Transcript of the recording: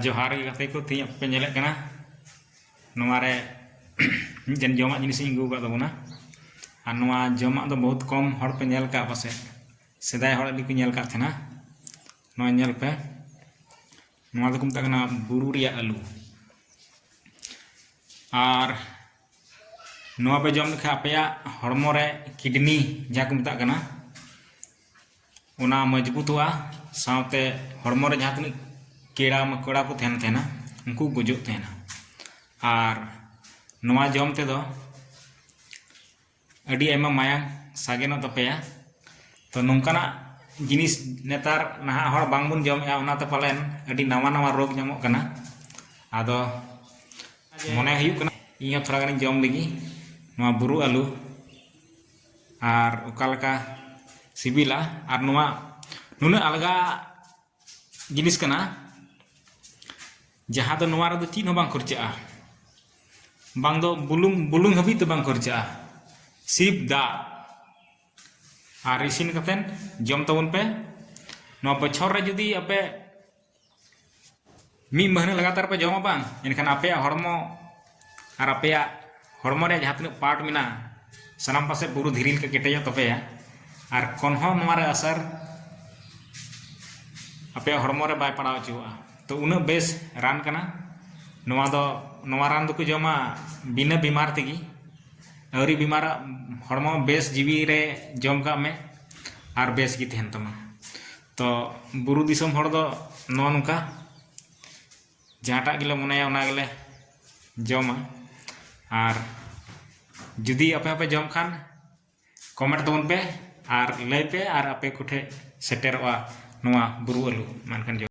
ᱡᱚᱦᱟᱨ ᱜᱮ ᱜᱟᱛᱮ ᱠᱚ ᱛᱮᱦᱮᱧ ᱟᱯᱮ ᱧᱮᱞᱮᱫ ᱠᱟᱱᱟ ᱱᱚᱣᱟ ᱨᱮ ᱢᱤᱫᱴᱮᱱ ᱡᱚᱢᱟᱜ ᱡᱤᱱᱤᱥ ᱤᱧ ᱟᱹᱜᱩ ᱟᱠᱟᱫ ᱛᱟᱵᱚᱱᱟ ᱟᱨ ᱱᱚᱣᱟ ᱡᱚᱢᱟᱜ ᱫᱚ ᱵᱚᱦᱩᱛ ᱠᱚᱢ ᱦᱚᱲ ᱯᱮ ᱧᱮᱞ ᱠᱟᱜ ᱯᱟᱥᱮᱡ ᱥᱮᱫᱟᱭ ᱦᱚᱲ ᱟᱹᱰᱤ ᱠᱚ ᱧᱮᱞ ᱠᱟᱜ ᱛᱟᱦᱮᱱᱟ ᱱᱚᱣᱟ ᱧᱮᱞ ᱯᱮ ᱱᱚᱣᱟ ᱫᱚᱠᱚ ᱢᱮᱛᱟᱜ ᱠᱟᱱᱟ ᱵᱩᱨᱩ ᱨᱮᱭᱟᱜ ᱟᱹᱞᱩ ᱟᱨ ᱱᱚᱣᱟ ᱯᱮ ᱡᱚᱢ ᱞᱮᱠᱷᱟᱱ ᱟᱯᱮᱭᱟᱜ ᱦᱚᱲᱢᱚ ᱨᱮ ᱠᱤᱰᱱᱤ ᱡᱟᱦᱟᱸ ᱠᱚ ᱢᱮᱛᱟᱜ ᱠᱟᱱᱟ ᱚᱱᱟ ᱢᱚᱡᱽᱵᱩᱛᱚᱜᱼᱟ ᱥᱟᱶᱛᱮ ᱦᱚᱲᱢᱚ ᱨᱮ ᱡᱟᱦᱟᱸ ᱛᱤᱱᱟᱹᱜ ᱠᱮᱲᱟ ᱢᱟᱠᱚᱲᱟ ᱠᱚ ᱛᱟᱦᱮᱱ ᱛᱟᱦᱮᱱᱟ ᱩᱱᱠᱩ ᱜᱩᱡᱩᱜ ᱛᱟᱦᱮᱱᱟ ᱟᱨ ᱱᱚᱣᱟ ᱡᱚᱢ ᱛᱮᱫᱚ ᱟᱹᱰᱤ ᱟᱭᱢᱟ ᱢᱟᱭᱟᱝ ᱥᱟᱜᱮᱱᱚᱜ ᱛᱟᱯᱮᱭᱟ ᱛᱚ ᱱᱚᱝᱠᱟᱱᱟᱜ ᱡᱤᱱᱤᱥ ᱱᱮᱛᱟᱨ ᱱᱟᱦᱟᱜ ᱦᱚᱲ ᱵᱟᱝᱵᱚᱱ ᱡᱚᱢᱮᱜᱼᱟ ᱚᱱᱟᱛᱮ ᱯᱟᱞᱮᱱ ᱟᱹᱰᱤ ᱱᱟᱣᱟ ᱱᱟᱣᱟ ᱨᱳᱜᱽ ᱧᱟᱢᱚᱜ ᱠᱟᱱᱟ ᱟᱫᱚ ᱢᱚᱱᱮ ᱦᱩᱭᱩᱜ ᱠᱟᱱᱟ ᱤᱧᱦᱚᱸ ᱛᱷᱚᱲᱟ ᱜᱟᱱᱤᱧ ᱡᱚᱢ ᱞᱮᱜᱮ ᱱᱚᱣᱟ ᱵᱩᱨᱩ ᱟᱹᱞᱩ ᱟᱨ ᱚᱠᱟ ᱞᱮᱠᱟ ᱥᱤᱵᱤᱞᱟ ᱟᱨ ᱱᱚᱣᱟ ᱱᱩᱱᱟᱹᱜ ᱟᱞᱜᱟ ᱡᱤᱱᱤᱥ ᱠᱟᱱᱟ ᱡᱟᱦᱟᱸ ᱫᱚ ᱱᱚᱣᱟ ᱨᱮᱫᱚ ᱪᱮᱫ ᱦᱚᱸ ᱵᱟᱝ ᱠᱷᱚᱨᱪᱟᱜᱼᱟ ᱵᱟᱝ ᱫᱚ ᱵᱩᱞᱩᱝ ᱵᱩᱞᱩᱝ ᱦᱟᱹᱵᱤᱡ ᱫᱚ ᱵᱟᱝ ᱠᱷᱚᱨᱪᱟᱜᱼᱟ ᱥᱤᱯ ᱫᱟᱜ ᱟᱨ ᱤᱥᱤᱱ ᱠᱟᱛᱮ ᱡᱚᱢ ᱛᱟᱵᱚᱱ ᱯᱮ ᱱᱚᱣᱟ ᱵᱚᱪᱷᱚᱨ ᱨᱮ ᱡᱩᱫᱤ ᱟᱯᱮ ᱢᱤᱫ ᱢᱟᱹᱦᱱᱟᱹ ᱞᱟᱜᱟᱛᱟᱨ ᱯᱮ ᱡᱚᱢᱟ ᱵᱟᱝ ᱮᱱᱠᱷᱟᱱ ᱟᱯᱮᱭᱟᱜ ᱦᱚᱲᱢᱚ ᱟᱨ ᱟᱯᱮᱭᱟᱜ ᱦᱚᱲᱢᱚ ᱨᱮ ᱡᱟᱦᱟᱸ ᱛᱤᱱᱟᱹᱜ ᱯᱟᱨᱴ ᱢᱮᱱᱟᱜᱼᱟ ᱥᱟᱱᱟᱢ ᱯᱟᱥᱮ ᱵᱩᱨᱩ ᱫᱷᱤᱨᱤ ᱞᱮᱠᱟ ᱠᱮᱴᱮᱡᱚᱜ ᱛᱟᱯᱮᱭᱟ ᱟᱨ ᱠᱚᱱ ᱦᱚᱸ ᱱᱚᱣᱟ ᱨᱮ ᱟᱥᱟᱨ ᱟᱯᱮᱭᱟᱜ ᱦᱚᱲᱢᱚ ᱨᱮ ᱵᱟᱭ ᱯᱟᱲᱟᱣ ᱦᱚᱪᱚᱣᱟᱜᱼᱟ ᱛᱚ ᱩᱱᱟᱹᱜ ᱵᱮᱥ ᱨᱟᱱ ᱠᱟᱱᱟ ᱱᱚᱣᱟ ᱫᱚ ᱱᱚᱣᱟ ᱨᱟᱱ ᱫᱚᱠᱚ ᱡᱚᱢᱟ ᱵᱤᱱᱟᱹ ᱵᱤᱢᱟᱨ ᱛᱮᱜᱮ ᱟᱹᱣᱨᱤ ᱵᱤᱢᱟᱨ ᱦᱚᱲᱢᱚ ᱵᱮᱥ ᱡᱤᱣᱤ ᱨᱮ ᱡᱚᱢ ᱠᱟᱜ ᱢᱮ ᱟᱨ ᱵᱮᱥ ᱜᱮ ᱛᱟᱦᱮᱱ ᱛᱟᱢᱟ ᱛᱚ ᱵᱩᱨᱩ ᱫᱤᱥᱚᱢ ᱦᱚᱲ ᱫᱚ ᱱᱚᱜᱼᱚ ᱱᱚᱝᱠᱟ ᱡᱟᱦᱟᱸᱴᱟᱜ ᱜᱮᱞᱮ ᱢᱚᱱᱮᱭᱟ ᱚᱱᱟ ᱜᱮᱞᱮ ᱡᱚᱢᱟ ᱟᱨ ᱡᱩᱫᱤ ᱟᱯᱮ ᱦᱚᱸᱯᱮ ᱡᱚᱢ ᱠᱷᱟᱱ ᱠᱚᱢᱮᱱᱴ ᱛᱟᱵᱚᱱ ᱯᱮ ᱟᱨ ᱞᱟᱹᱭ ᱯᱮ ᱟᱨ ᱟᱯᱮ ᱠᱚᱴᱷᱮᱱ ᱥᱮᱴᱮᱨᱚᱜᱼᱟ ᱱᱚᱣᱟ ᱵᱩᱨᱩ ᱟᱹᱞᱩ ᱢᱟ ᱮᱱᱠᱷᱟᱱ ᱡᱚᱦᱟᱨ